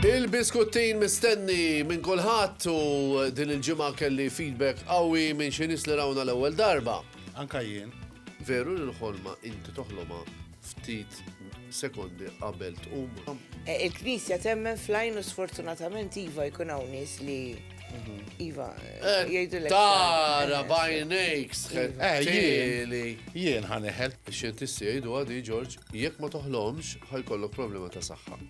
Il-biskuttin mistenni minn kulħadd u din il-ġimgħa kelli feedback qawwi minn xi nies li rawna l-ewwel darba. Anka jien. Veru li l-ħolma inti toħloma ftit sekondi qabel tqum. E, Il-Knisja temmen flajn u sfortunatament iva jkun hawn nies li mhm. iva eh, jgħidu l Tara eh, bajnejk sħet. Eh, jien ħaneħel. Ix-xjentisti jgħidu għadi Ġorġ, jekk ma toħlomx ħajkollok problema ta' saħħa.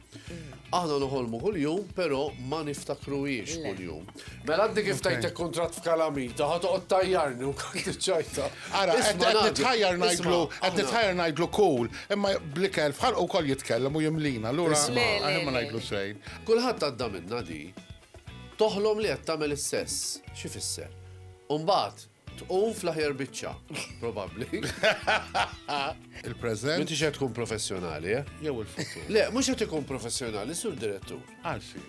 Aħna noħolmu kuljum, però ma niftakruhiex kuljum. Mela għaddi kif tajtek kontrat f'kalamita, ħad toqgħod tajjarni u kont ċajta. Ara, qed nitħajjar ngħidlu, qed nitħajjar ngħidlu cool, imma blikel fħalqu wkoll jitkellem u jimlina, lura aħjar ma ngħidlu xejn. Kulħadd għadda minnha di. Toħlom li qed tagħmel is-sess, xi fisser? U mbagħad Tqum fl-aħjar biċċa, probabbli. Il-preżent. Inti xed tkun professjonali, eh? Jew il-futur. Le, mhux qed ikun professjonali, sur direttur. Għalxi.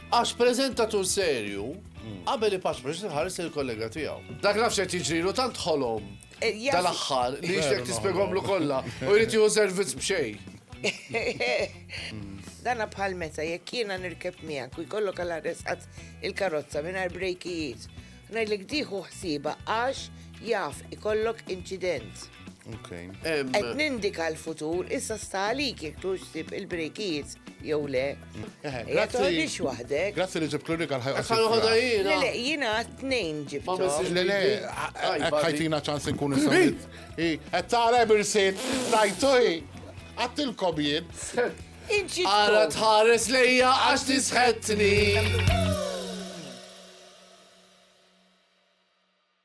Għax preżentatur serju, hmm. qabel ipaċ biex tħares il-kollega tiegħu. Dak nafx qed jiġrilu tant ħolom eh, tal-aħħar li jixtek tispjegomlu kollha u jrid jieħu servizz b'xejn. Dana bħal meta jekk jiena nirkeb miegħek u jkollok għal arresqat il-karozza mingħajr brejkijiet Ngħidlek tieħu ħsiebha għax jaf ikollok inċident. Qed nindika l-futur issa sta għalik jekk tux sib il-brejkijiet jew le. Ja toħdix waħdek. Grazzi li ġib l-unika l-ħajqa. Ħa noħodha jiena. Le, jiena tnejn ġibthom. Le, le, ħajtina ċans nkun is-sawit. Qed tara birsit, tajtu hi. Għattilkom jien. Ara tħares lejja għax tisħetni.